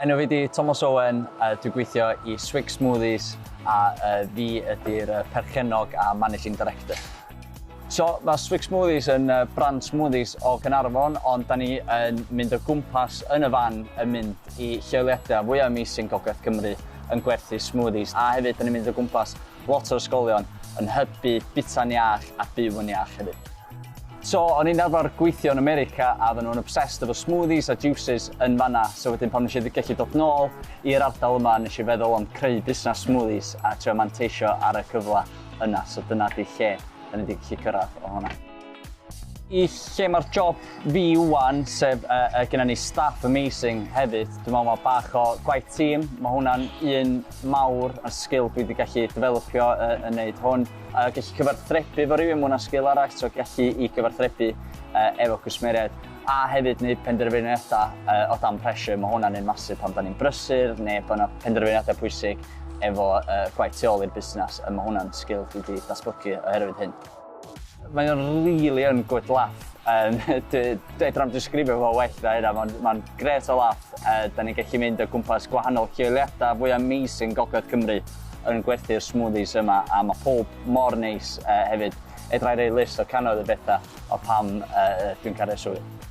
Enw fi di Tomos Owen, a dwi'n gweithio i Swig Smoothies a uh, fi ydy'r uh, perchennog a managing director. So, mae Swig Smoothies yn uh, brand smoothies o Gynarfon, ond da ni yn mynd o gwmpas yn y fan yn mynd i lleoliadau fwyaf amazing Gogledd Cymru yn gwerthu smoothies. A hefyd, da ni'n mynd o gwmpas Lot o ysgolion yn hybu bita'n iach a byw yn iach hefyd. So, o'n i'n arfer gweithio yn America a oedden nhw'n obsessed efo smoothies a juices yn fanna, so wedyn pan nes i gallu dod nôl i'r ardal yma nes i feddwl am creu busnes smoothies a trio manteisio ar y cyfle yna, so dyna 'di lle 'dan ni 'di gallu cyrraedd o hwnna. i lle mae'r job fi wan, sef uh, uh, gyda ni staff amazing hefyd. Dwi'n meddwl mae bach o gwaith tîm, mae hwnna'n un mawr ar sgil dwi wedi gallu developio uh, yn neud hwn. A uh, gallu cyfarthrebu fo rhywun, mae hwnna'n sgil arall, so gallu i gyfarthrebu uh, efo cwsmeriaid. A hefyd wneud penderfyniadau uh, o dan pressure, mae hwnna'n un masif pan da ni'n brysur neu bod yna penderfyniadau pwysig efo uh, gwaith tu ôl i'r busnes, a mae hwnna'n sgil dwi wedi datblygu oherwydd hyn. Mae o'n rili yn good laff yym dwi fedra i'm disgrifio fo well na hynna ma'n ma'n grêt o laff yy 'dan ni'n gellu mynd o gwmpas gwahanol lleoliada fwy amazing gogledd Cymru yn gwerthu'r smoothies yma a ma' powb mor neis yy hefyd fedra i roi list o cannoedd o betha o pam yy yy dwi'n caru'r swydd.